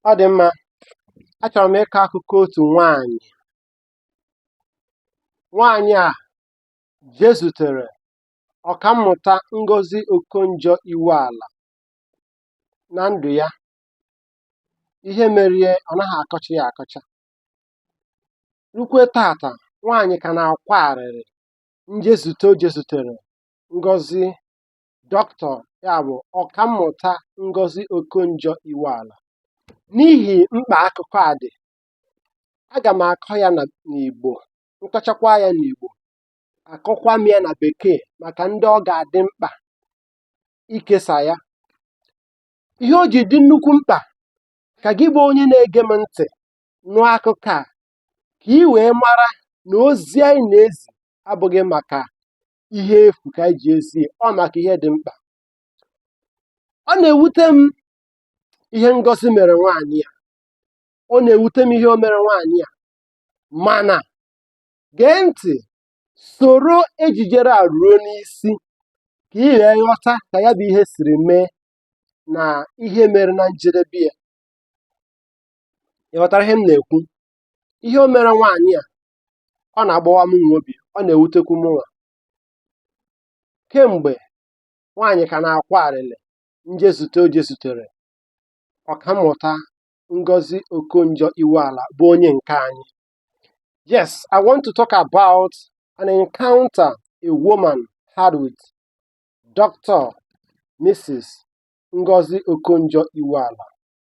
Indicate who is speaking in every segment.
Speaker 1: Ọ dị mma, achọrọ m ịkọ akụkọ otu nwaanyị. Nwaanyị a jezutere ọkammụta Ngozi Okonjo-Iweala na ndụ ya. Ihe merie ọ naghị akọcha ya akọcha. Rukwe tata, nwaanyị ka na-akwa arịrị njezute o jezutere Ngozi Dọkịta ya bụ Ọkammụta Ngozi Okonjo-Iweala n'ihi mkpa akụkọ a dị aga m akọ ya n'Igbo m kọchakwa ya n'Igbo akọkwa m ya na bekee maka ndị ọ ga-adị mkpa ikesa ya ihe o ji dị nnukwu mkpa ka gị bụ onye na-ege m ntị nụọ akụkọ a ka ị wee mara na ozi anyị na-ezi abụghị maka ihe efu ka anyị ji ezi ọ maka ihe dị mkpa ọ na-ewute m ihe Ngozi mere nwaanyị a ọ na-ewute m ihe o mere nwaanyị a mana gee ntị soro ejijere a ruo n'isi ka ị wee ghọta ka ya bụ ihe siri mee na ihe mere na njedebe ya ị ghọtara ihe m na-ekwu ihe o mere nwaanyị a ọ na-agbawa m nwa obi ọ na-ewutekwu m nwa kemgbe nwaanyị ka na-akwa arịrị njezute o jezutere ọkammụta Ngozi Okonjo-Iweala bụ onye nke anyị yes I want to talk about an encounter a woman had with Dr. Mrs. Ngozi Okonjo-Iweala.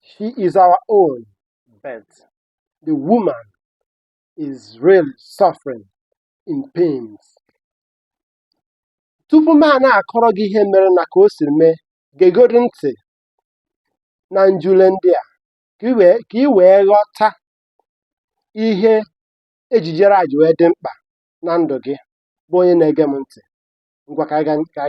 Speaker 1: She is our own, but the woman is really suffering in pains. Tupu m a na-akọrọ gị ihe mere na ka o siri mee, gegodi ntị na njule ndị a ka i wee ghọta ihe ejijere a ji wee dị mkpa na ndụ gị bụ onye na-ege m ntị. Ngwa ka anyị gaa.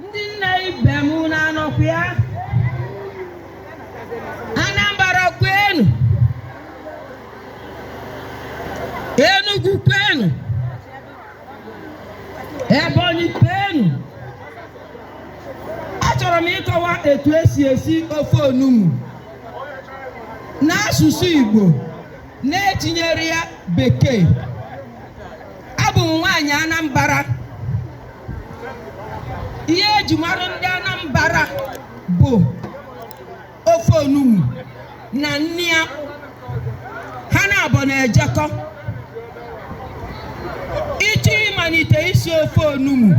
Speaker 2: ndị nne ibe m unu anọkwa ya Anambra kwenu Enugu kwenu Ebonyi kwenu achọrọ m ịkọwa etu e si esi ofe onugbu n'asụsụ Igbo na-etinyere ya bekee abụ m nwaanyị Anambra ihe eji mara ndị Anambra bụ ofe onugbu na nni ya ha naabọ na-ejekọ ị chọọ ịmalite isi ofe onugbu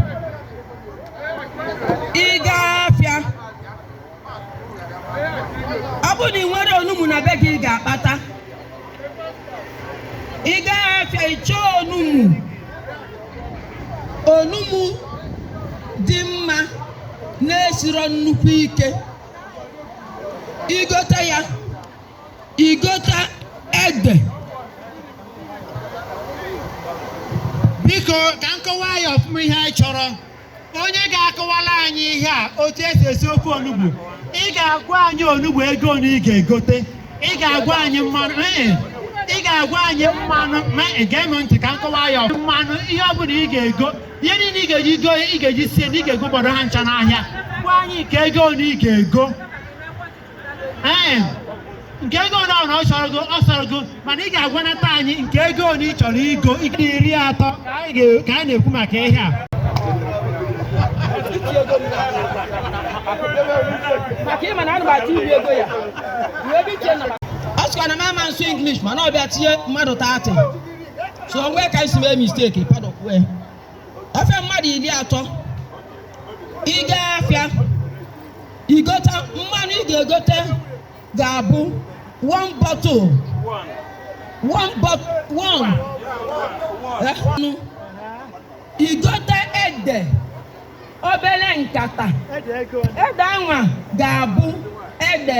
Speaker 2: ọ bụrụ na ị nwere onugbu na be gị ị ga-akpata ị gaghị afịa ị chọọ onugbu onugbu dị mma na-esiro nnukwu ike i gote ya i gote
Speaker 3: ede biko ka m kọwaa ya ọfụma ihe anyị chọrọ onye ga-akọwala anyị ihe a otu esi esi ofe onugbu ị ga-agwa anyị onugbu ego one ị ga-egote ị ga-agwa anyị mmanụ ee, ị ga-agwa anyị mmanụ ma gee m ntị ka m kọwaa ya ọfụma. mmanụ ihe ọ bụla ị ga-ego ihe niile ị ga-eji go ị ga-eji sie nni ị ga-ego gbọdọ ha ncha n'ahịa gwa anyị nke ego one ị ga-ego ee nke ego one ọrụ ọ chọrọ go ọ sọrọ go mana ị ga-agwanata anyị nke ego one ị chọrọ igo ị ga iri atọ ka anyị ga- ka anyị na-ekwu maka ihe a maka
Speaker 2: ịma na ana m atụ iri ego ya wee ebe iche na a sịkwa na m ama asụ English mana ọ bịa tinye mmadụ 30 so o nwee ka i si mee mistake padọkwue afịa mmadụ iri atọ ị gaa afịa igota mmanụ ị ga-egote ga-abụ one bottle one bottle one Eh, nụ. i gote ede obere nkata ede anwa ga-abụ ede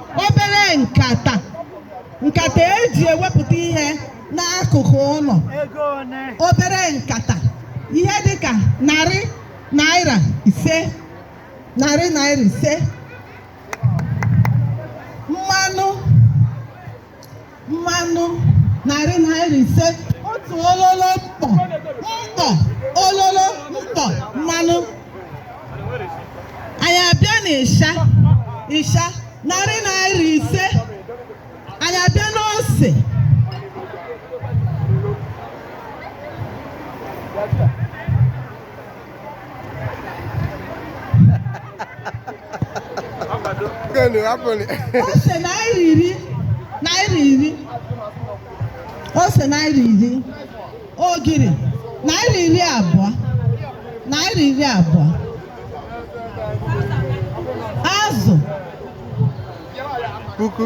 Speaker 4: obere nkata nkata eji ewepụta ihe n'akụkụ ụnọ obere nkata ihe dịka narị naira ise narị naira ise mmanụ mmanụ narị naira ise otu ololo mkpọ mkpọ ololo mkpọ mmanụ anyị abịa n'ịsha ịsha narị naira ise anyị abịa n'ose Gani hapụnị. Ose naira iri naira iri ose naira iri ogiri naira iri abụọ naira iri abụọ azụ
Speaker 5: Puku.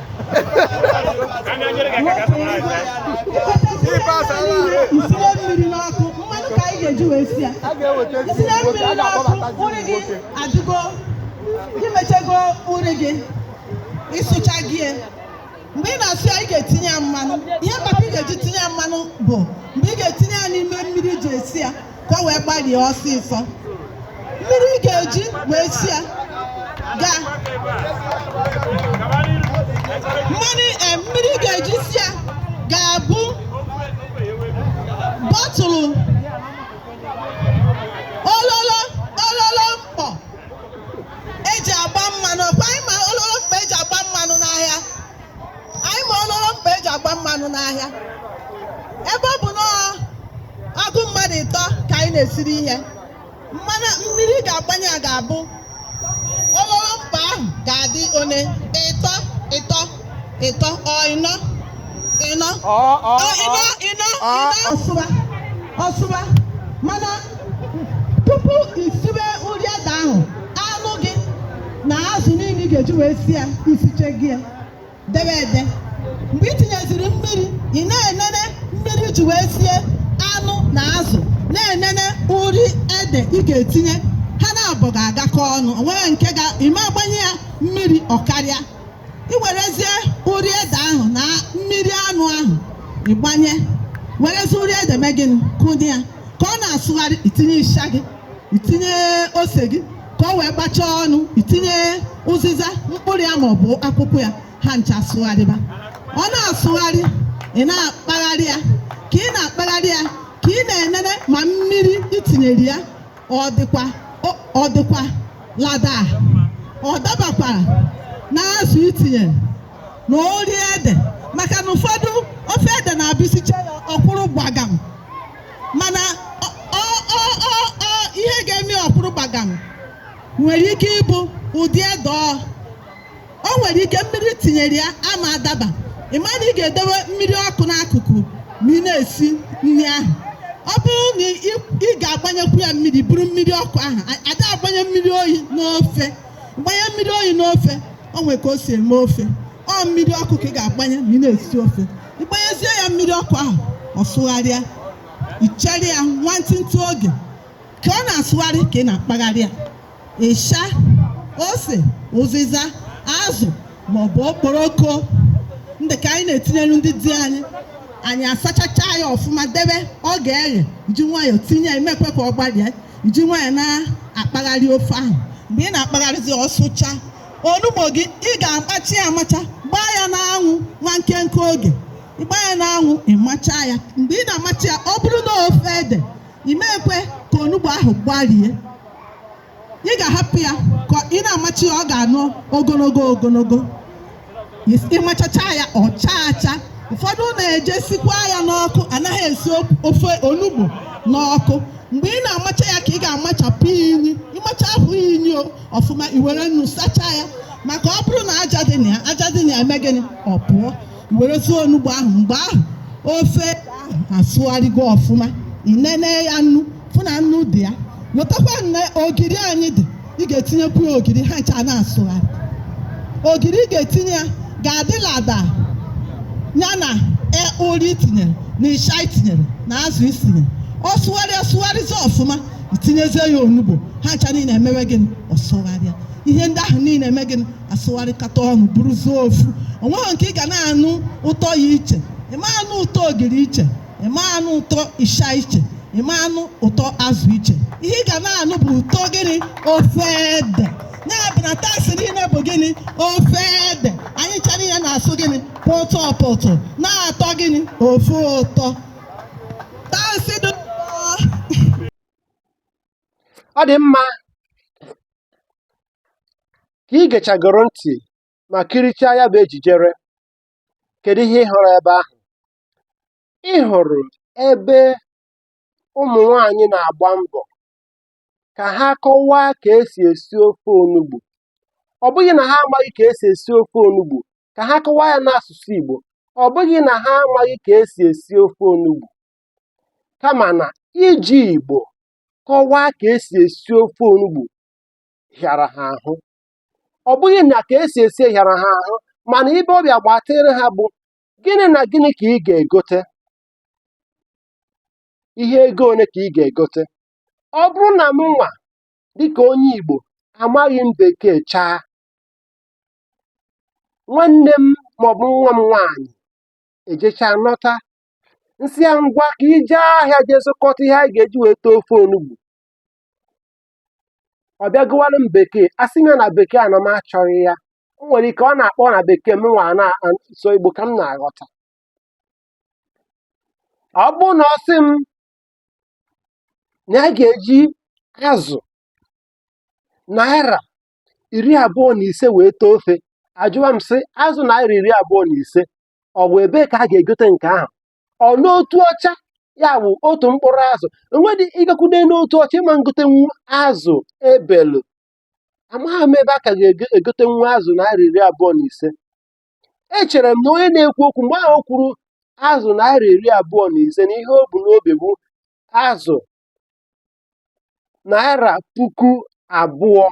Speaker 4: i siwe mmiri n'ọkụ mmanụ ka anyị ga-eji wee sie ya i sie mmiri n'ọkụ uri gị adịgo i mechego uri gị ị sụchago ya. mgbe ị na-asụ ya ị ga-etinye ya mmanụ ihe kpatara ị ga-eji tinye ya mmanụ bụ mgbe ị ga-etinye ya n'ime mmiri ji esi ya ka o wee gbalie ọsịsọ mmiri ị ga-eji wee si ya ga eh, mmiri ị ga-eji si ya ga-abụ bọtụlụ ololo mkpọ eji agba mmanụ anyị ma ololo mkpọ eji agba mmanụ n'ahịa anyị ma ololo mkpọ eji agba mmanụ n'ahịa ebe ọ bụ na ọgụ mmadụ ịtọ ka anyị na-esiri ihe mmanụ mmiri ị ga-agbanye ya ga-abụ ololo mkpọ ahụ ga-adị one ịtọ ịtọ ịnọ ọsụba mana tupu isibe uri ede ahụ na azụ niile ị ga-eji wee si ya isiche gị ya debe ede mgbe ị tinyeziri mmiri ị na-enene mmiri iji wee sie anụ na azụ na-enene uri ede ị ga-etinye ha naabọ ga-agakọ ọnụ o nwere nke ime agbanye ya mmiri ọ karịa ị werezie uri ede ahụ na mmiri anụ ahụ ịgbanye werezie uri ede mee gịnị kụnye ya ka ọ na-asụgharị itinye ịsha gị itinye ose gị ka o wee gbachaa ọnụ itinye ụzịza mkpụrụ ya maọbụ akwụkwọ ya ha ncha asụgharịba ọ na-asụgharị ị na-akpagharị ya ka ị na-akpagharị ya ka ị na-enene ma mmiri itinyere ya ọ dịkwa ọ- ọ dịkwa lada ọ dabakwara na azụ itinyere na ori ede maka na ụfọdụ ofe ede na-abụ isicha ya ọ kwụrụ gbagam mana ihe ga-eme ọ kwụrụ gbagam nwere ike ịbụ ụdị ede o o nwere ike mmiri itinyere ya ama adaba ị ma na ị ga-edowe mmiri ọkụ n'akụkụ ma ị na-esi nri ahụ ọ bụrụ na ị ga-agbanyekwu ya mmiri bụrụ mmiri ọkụ ahụ ada agbanye mmiri oyi n'ofe gbanye mmiri oyi n'ofe o nwere ka o si eme ofe ọ mmiri ọkụ ka ị ga-agbanye ma ị na-esi ofe ịgbanyezie ya mmiri ọkụ ahụ ọ sụgharịa ichere ya nwantịntị oge ka ọ na-asụgharị ka ị na-akpagharị ya ịsha ose ụzịza azụ maọbụ okporoko ndị ka anyị na-etinyere ndị di anyị anyị asachacha ya ọfụma debe ọ ga-eghe iji nwayọọ tinye ya emekwe ka ọ gbalịa iji nwayọọ na-akpagharị ofe ahụ mgbe ị na-akpagharịzi ọ sụcha onugbo gị ị ga-amachi ya amacha gbaa ya n'anwụ nwa nkenke oge ịgba ya n'anwụ ịmacha ya mgbe ị na-amacha ya ọ bụrụ na ofe ede imekwe ka onugbo ahụ gbarie ị ga-ahapụ ya ka ị na-amachi ya ọ ga-anọ ogologo ogologo ịmachacha ya ọ chaa acha ụfọdụ na-eje sikwa ya n'ọkụ anaghị esi ofe onugbo n'ọkụ mgbe ị na-amacha ya ka ị ga-amachapụ inyi ịmachapụ inyi o ọfụma i were nnu sachaa ya maka ọ bụrụ na aja dị na ya aja dị na ya eme gịnị ọ pụọ i werezie onugbo ahụ mgbe ahụ ofe ahụ asụgharịgo ọfụma ị nene ya nnu fụ na nnu dị ya wetakwa ogiri anyị dị ị ga-etinyekwu ya ogiri ha ncha na-asụgharị ogiri ị ga-etinye ya ga-adị lada ya na e- ori i tinyere na ịsha i tinyere na azụ i sinyere ọ sụgharịa sụgharịzi ọfụma itinyezie ya onugbo ha ncha niile emewe gịnị ọ sụgharịa ihe ndị ahụ niile eme gịnị asụgharịkata ọnụ bụrụzie ofu o nweghị nke ị ga na-anụ ụtọ ya iche ị ma anụ ụtọ ogiri iche ị ma anụ ụtọ ịsha iche ị ma anụ ụtọ azụ iche ihe ị ga na-anụ bụ ụtọ gịnị ofe ede ya bụ na taste niile bụ gịnị ofe ede anyị ncha niile na-asụ gịnị pọtọ pọtọ na-atọ gịnị ofu ụtọ
Speaker 1: ọ dị mma ka ị gechagoro ntị ma kirichaa ya bụ ejijere kedu ihe ị hụrụ ebe ahụ ị hụrụ ebe ụmụ nwanyị na-agba mbọ ka ha kọwaa ka esi esi ofe onugbu ọ bụghị na ha amaghị ka esi esi ofe onugbu ka ha kọwaa ya n'asụsụ Igbo ọ bụghị na ha amaghị ka esi esi ofe onugbu kama na iji Igbo kọwaa ka esi esi ofe onugbu hịara ha ahụ ọ bụghị na ka esi esi hịara ha ahụ mana ibe ọ bịa gbatịrị ha bụ gịnị na gịnị ka ị ga-egote ihe ego ole ka ị ga-egote ọ bụrụ na mụ nwa dịka onye Igbo amaghị m bekee chaa nwanne m maọbụ nwa m nwaanyị ejechaa nọta m sị ya ngwa ka i je ahịa jee zụkọta ihe anyị ga-eji wee tee ofe onugbu ọ bịa gụwara m bekee asị m ya na bekee a na m achọghị ya o nwere ike ọ na-akpọ na bekee mụ nwa sọ Igbo ka m na-aghọta ọ bụrụ na ọ sị m na a ga-eji azụ naira iri abụọ na ise wee tee ofe ajụwa m sị azụ naira iri abụọ na ise ọ bụ ebee ka a ga-egote nke ahụ ọ n'Otuọcha ya bụ otu mkpụrụ azụ enwedị ịgakwude n'Otuọcha ị ma ngotenwu azụ ebelu amaghị m ebe a ka ga-egotenwu azụ naira iri abụọ na ise echere m na onye na-ekwu okwu mgbe ahụ o kwuru azụ naira iri abụọ na ise na ihe o bu n'obi bụ azụ naira puku abụọ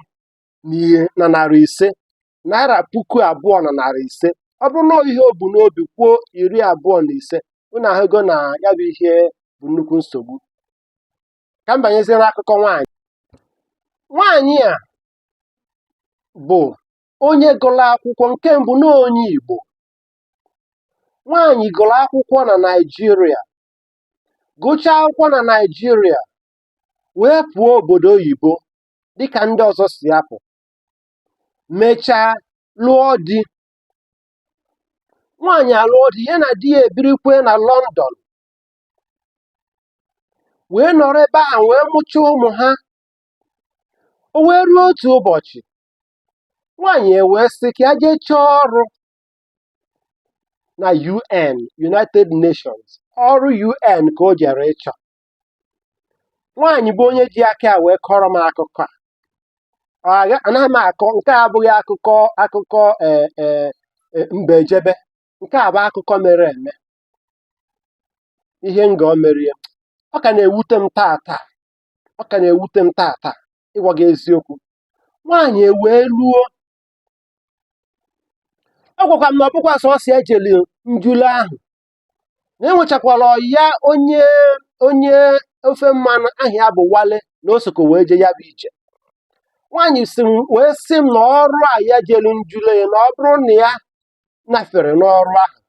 Speaker 1: na ihe na narị ise naira puku abụọ na narị ise ọ bụrụ na ihe o bu n'obi kwuo iri abụọ na ise unu ahụgo na ya bụ ihe bụ nnukwu nsogbu ka m banyezie n'akụkọ nwaanyị nwaanyị a bụ onye gụrụ akwụkwọ nke mbụ na onye Igbo nwaanyị gụrụ akwụkwọ na Naịjirịa gụchaa akwụkwọ na Naịjirịa wee pụọ obodo oyibo dịka ndị ọzọ si apụ mechaa lụọ di nwaanyị alụọ di ya na di ya ebirikwe na London wee nọrọ ebe ahụ wee mụchaa ụmụ ha o wee ruo otu ụbọchị nwaanyị ewee sị ka ya jee chọọ ọrụ na UN United Nations ọrụ UN ka o jere ịchọ nwaanyị bụ onye ji aka ya wee kọrọ m akụkọ a Ọ agha- anaghị m akọ nke a abụghị akụkọ akụkọ ee ee e, mbe ejebe nke a bụ akụkọ mere eme ihe Ngọ mere ọ ka na-ewute m taata ọ ka na-ewute m taata ịgwa gị eziokwu nwaanyị ewee luo ọ gwakwa m na ọ bụkwa sọsọ ya jelu njụle ahụ na enwechakwara ya onye onye ofe mmanụ aha ya bụ Wale na o sokọ wee je ya bụ ije nwaanyị si m wee sị m na ọrụ a ya jelu njụle ya na ọ bụrụ na ya nafere n'ọrụ ahụ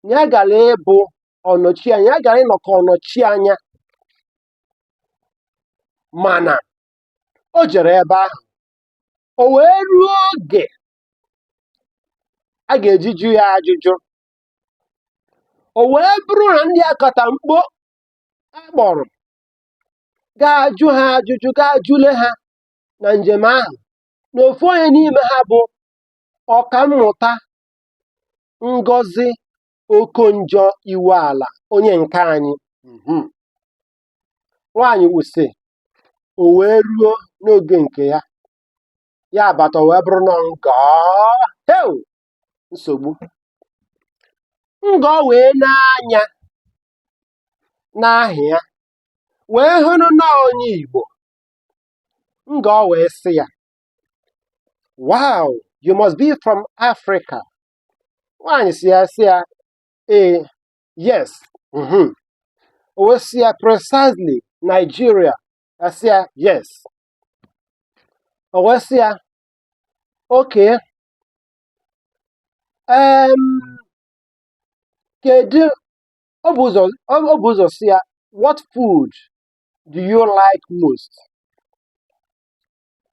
Speaker 1: na ya gara ịbụ ọnọchi anya ya gara ịnọ ka ọnọchi anya mana o jere ebe ahụ o wee ruo oge a ga-eji jụ ya ajụjụ o wee bụrụ na ndị akatamkpo a kpọrọ ga-ajụ ha ajụjụ ga-ajụle ha na njem ahụ na ofu onye n'ime ha bụ ọkammụta Ngozi Okonjo Iweala onye nke anyị mhm. nwaanyị ahụ sị o wee ruo n'oge nke ya ya abata wee bụrụ na ngọọ heu nsogbu ngọọ wee nee anya n'aha ya wee hụrụ na onye Igbo ngọọ wee sị ya wow you must be from Africa nwaanyị sị ya sị ya ee yes mhm. o wee sị ya precisely Nigeria asị ya yes o wee sị ya okay um, kedu o bu ụzọ o bu ụzọ sị ya what food do you like most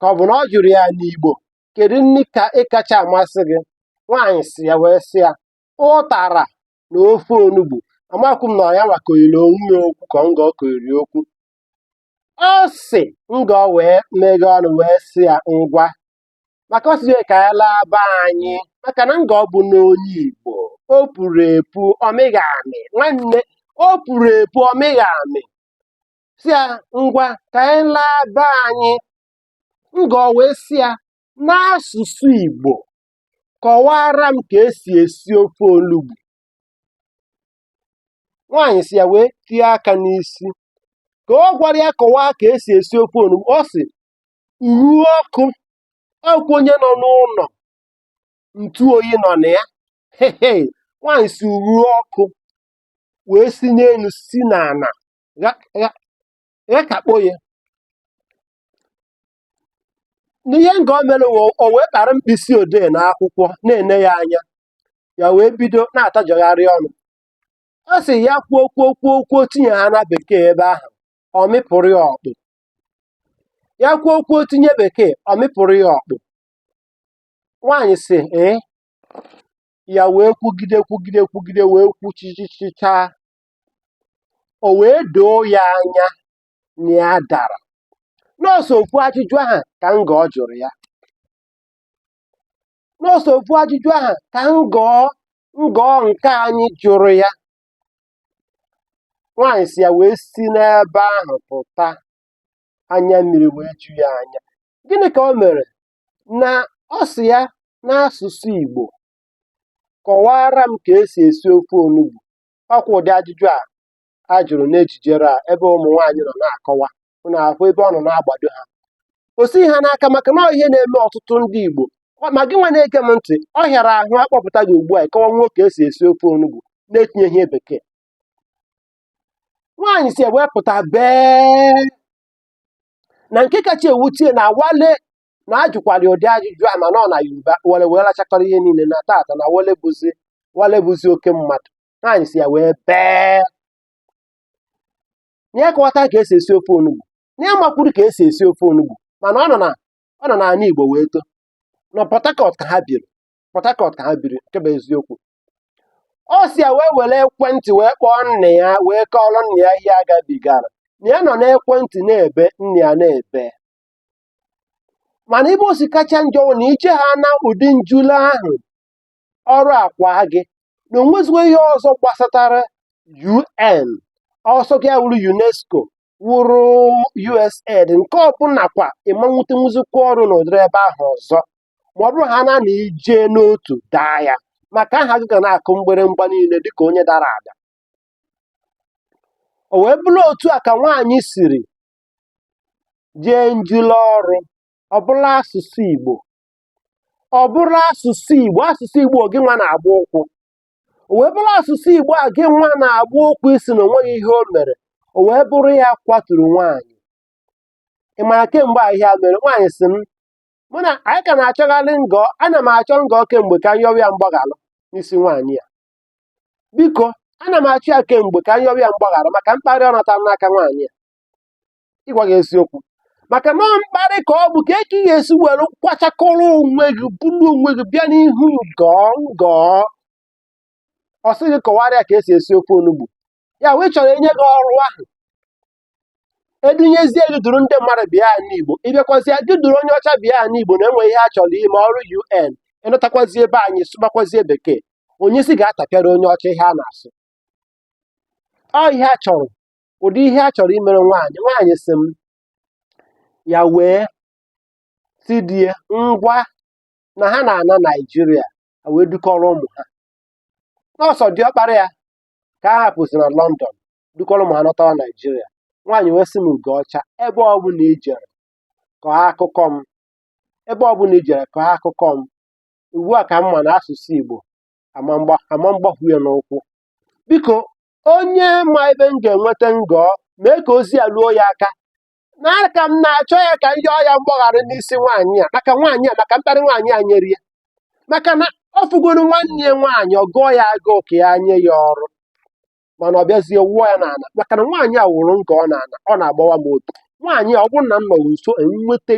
Speaker 1: ka ọ bụ na ọ jụrụ ya n'Igbo kedu nri ka ị kacha amasị gị nwaanyị sị ya wee sị ya ụtara na ofe onugbu amakwu m na ya nwa koyiri onwe ya okwu ka ngọ koyiri okwu ọ sị ngọ wee meghe ọnụ wee sị ya ngwa maka ọ sịzie ka ya laa be anyị maka na ngọ bụ na onye igbo o puru epu ọ mịghị amị nwanne o puru epu ọ mịghị amị sị ya ngwa ka anyị laa be anyị Ngọọ wee sị ya, n'asụsụ Igbo, kọwaara m ka esi esi ofe onugbu. Nwaanyị sị ya wee tie aka n'isi. Ka ọ gwara ya kọwaa ka esi esi ofe onugbu, ọ sị, uru ọkụ, ọkwa onye nọ n'ụlọ ntụ oyi nọ na ya. Hehe, nwaanyị sị uru ọkụ wee si n'elu si n'ala gha- gha- ya ka kpọọ ya n'ihe ngọọ mere wụ o wee kpara mkpịsị odee na akwụkwọ na-ene ya anya ya wee bido na-atajọgharị ọnụ ọ sị ya kwuo kwuo kwuo kwuo tinye ha na bekee ebe ahụ ọ mịpụrụ ya ọkpụ ya kwuo kwuo tinye bekee ọ mịpụrụ ya ọkpụ nwaanyị sị ee ya wee kwugide kwugide kwugide wee kwuchichichichaa o wee doo ya anya na ya dara na ọ sọ ofu ajụjụ ahụ ka ngọọ jụrụ ya na ọ sọ ofu ajụjụ ahụ ka ngọọ nke anyị jụrụ ya nwaanyị sị ya wee si n'ebe ahụ pụta anya mmiri wee ju ya anya gịnị ka o mere na ọ sị ya n'asụsụ Igbo kọwaara m ka esi esi ofe onugbu ọkwa ụdị ajụjụ a a jụrụ n'ejijere a ebe ụmụ nwaanyị nọ na-akọwa unu ahụ ebe ọ nọ na-agbado ha o sighi ha n'aka maka na ọ ihe na-eme ọtụtụ ndị Igbo Ọ- ma gị nwa na-ege m ntị ọ hịara ahụ akpọpụta gị ugbu a ịkọwanwu ka esi esi ofe onugbu na-etinyeghị ihe bekee nwaanyị si ya wee pụta bee na nke kacha ewute ya na wale na a jụkwara ya ụdị ajụjụ a mana ọ na yoruba wale wee lachakọrọ ihe niile na tata na wale bụzi wale bụzi oke mmadụ nwaanyị si ya wee bee na ya kọwata ka esi esi ofe onugbu na ya makwuru ka esi esi ofe onugbu mana ọ nọ na ọ nọ n'ala igbo wee too na port harcourt ka ha biri port harcourt ka ha biri nke bụ eziokwu ọ si ya wee were ekwentị wee kpọọ nna ya wee kọọrọ nna ya ihe agabigara na ya nọ n'ekwentị na-ebe nna ya na-ebe mana ebe o si kacha njọ bụ na i jee haa na ụdị njule ahụ ọrụ akwa gị na onwezikwa ihe ọzọ gbasatara UN ọ sọ gị ya wụrụ UNESCO wụrụ USAID nke ọbụla kwa ị ma nwetenwuzikwa ọrụ n'ụdịrị ebe ahụ ọzọ ma ọ bụrụ ha na na i jee n'otu daa ya maka aha gị ga na-akụ mgbịrịmgba niile dịka onye dara ada o wee bụrụ otu a ka nwaanyị siri jee njule ọrụ ọ bụrụ asụsụ Igbo ọ bụrụ asụsụ Igbo asụsụ Igbo gị nwa na-agba ụkwụ o wee bụrụ asụsụ Igbo a gị nwa na-agba ụkwụ ị sị na onweghị ihe o mere o wee bụrụ ya kwaturu nwaanyị ị ma na kemgbe a ihe a mere nwaanyị si m mụ na anyị ka na-achọgharị ngọ ana m achọ ngọ kemgbe ka m yọwa ya mgbaghara n'isi nwaanyị a biko ana m achọ ya kemgbe ka m yọwa ya mgbaghara maka mkparị ọ natara n'aka nwaanyị a ịgwa gị eziokwu maka na ọ mkparị ka ọ bụ kee ka ị ga-esi were kwachakọrọ onwe gị buru onwe gị bịa n'ihu ngọ ngọ ọ sị gị kọwara ya ka esi esi ofe onugbu ya wụ ị chọrọ enye gị ọrụ ahụ edunyezie gị duru ndị mmadụ bịa anị igbo ịbịakwazie gị duru onye ọcha bịa anị igbo na enwe ihe a chọrọ ime ọrụ un ịnọtakwazie ebe anyị sụbakwazie bekee onyezi ga-atapịara onye ọcha ihe a na-asụ ọ ihe a chọrọ ụdị ihe a chọrọ imere nwaanyị nwaanyị si m ya wee si di ya ngwa na ha na-ana naijiria ha wee dukọrọ ụmụ ha na ọ sọ diọkpara ya ka a hapụzi na lọndọn dukọrọ ụmụ ha nọtawa naijiria nwaanyị wee sị m ugo ọcha ebe ọbụla i jere kọọ akụkọ m ebe ọbụla i jere kọọ akụkọ m ugbu a ka m ma na asụsụ igbo ama m gba- ama m gbakwu ya n'ụkwụ biko onye ma ebe m ga-enweta ngọọ mee ka ozi a ruo ya aka na aka m na-achọ ya ka m yọọ ya mgbaghara n'isi nwaanyị a maka nwaanyị a maka mkparị nwaanyị a nyere ya maka na ọ fụgoro nwanne ya nwaanyị ọ gụọ ya agụụ ka ya nye ya ọrụ mana ọ bịazie wụọ ya n'ala maka na nwaanyị a wụrụ ngọọ n'ala ọ na-agbawa m obi nwaanyị a ọ bụrụ na m nọrọ nso enweta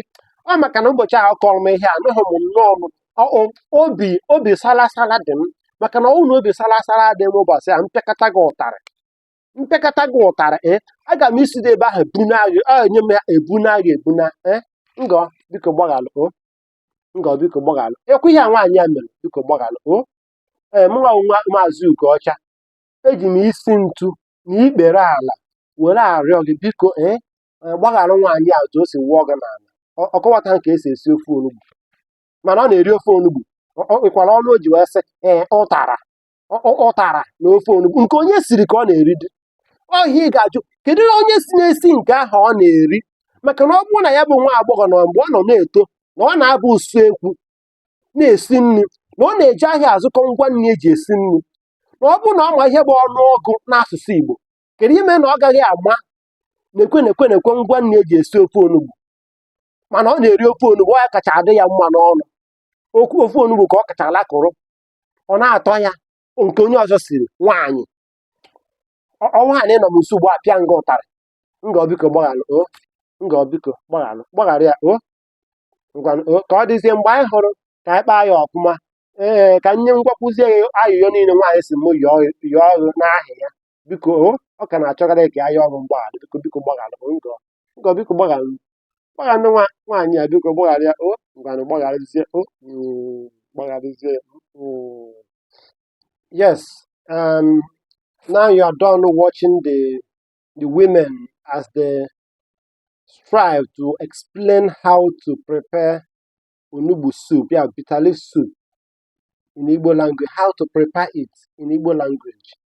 Speaker 1: ọ maka na ụbọchị ahụ kọrọ m ihe anụghị m nnọọ m ọ- ọ- obi obi salasala dị m maka na ọ bụrụ na obi salasala dị m ụbọchị a m pịakata gị ụtarị m pịakata gị ụtarị ee aga m isi dị ebe ahụ ebuna gị ọ enye m ya ebuna gị ebuna ee ngọ biko gbaghalụ o ngọ biko gbaghalụ ekwu ihe a nwaanyị a mere biko gbaghalụ o ee mụnwa bụ nwa maazị ugoọcha eji m isi ntu na ikpere ala were arịọ gị biko ee eh, gbaghara nwaanyị a otu o si wụọ gị n'ala ọ ọ kọwata ka esi esi ofe onugbu mana ọ na-eri ofe onugbu ọ ọ nwekwara ọnụ o ji wee sị ee ụtara ọ ọ- ụtara na ofe onugbu nke onye siri ka ọ na-eri dị ọhịa ị ga-ajụ kedu na onye si na-esi nke ahụ ọ na-eri maka na ọ bụrụ na ya bụ nwa agbọghọ na mgbe ọ nọ na-eto na ọ na-aba usekwu na-esi nri na ọ na-eje ahịa azụkọ ngwa nri eji esi nri na ọ bụrụ na ọ ma ihe bụ ọnụ ọgụ n'asụsụ Igbo kedu ime na ọ gaghị ama nekwe nekwe nekwe ngwa nri eji esi ofe onugbu mana ọ na-eri ofe onugbu ọ ya kacha adị ya mma n'ọnụ ọ bụ ofe onugbu ka ọ kacha alakụrụ ọ na-atọ ya nke onye ọzọ siri nwaanyị Ọ- ọnwa ha na ị nọ m nso ugbu a apịa m gị ụtarị ngọ biko gbaghalụ o ngọ biko gbaghalụ gbaghara ya o ngwa o ka ọ dịzie mgbe anyị hụrụ ka anyị kpaa ya ọfụma ee ka nye ngwakwuzie ya ayịyọ niile nwaanyị si mụ yọọ yọọ gị n'aha ya biko o ọ ka na-achọgharị ka a yọọ gị mgbaghara biko biko gbaghara m ngọ ngọ biko gbaghara m gbaghara nwa nwaanyị a biko gbaghara ya o ngwanụ gbagharazie o mm, gbagharazie ya mm. yes um, now you are done watching the the women as they strive to explain how to prepare onugbu soup yeah bitter leaf soup in Igbo language how to prepare it in Igbo language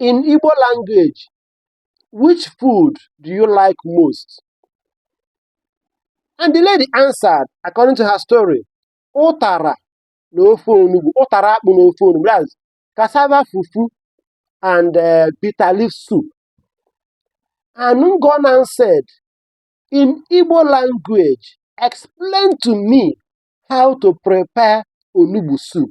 Speaker 1: In Igbo language, which food do you like most? And the lady answered, according to her story, ụtara na ofe onugbu, ụtara akpụ na ofe onugbu, that's cassava fufu and uh, bitter leaf soup. And Ngona said, in Igbo language, explain to me how to prepare onugbu soup.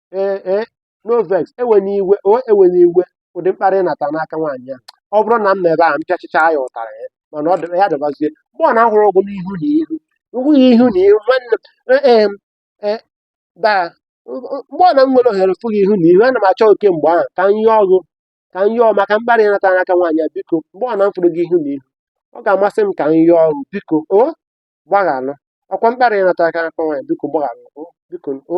Speaker 1: ee ee no vex ewena iwe o ewena iwe ụdị mkparị ị nata n'aka nwaanyị a ọ bụrụ na m nọ ebe a m pịachịcha ya ụtarị ya mana ọ dị- ya dịbazie mgbe ọbụna m hụrụ gị n'ihu na ihu ihu ya ihu na ihu nwanne m ee ee m, ee daa mgbe ọbụna m nwere ohere fụ gị ihu na ihu ana m achọ oke mgbe ahụ ka m yọọ gị ka m yọọ maka mkparị ị nata n'aka nwaanyị a biko mgbe ọbụna m fụrụ gị ihu na ihu ọ ga-amasị m ka m yọọ gị biko o gbaghalụ ọkwa mkparị ị nata aka n'aka nwaanyị biko gbaghalụ o biko o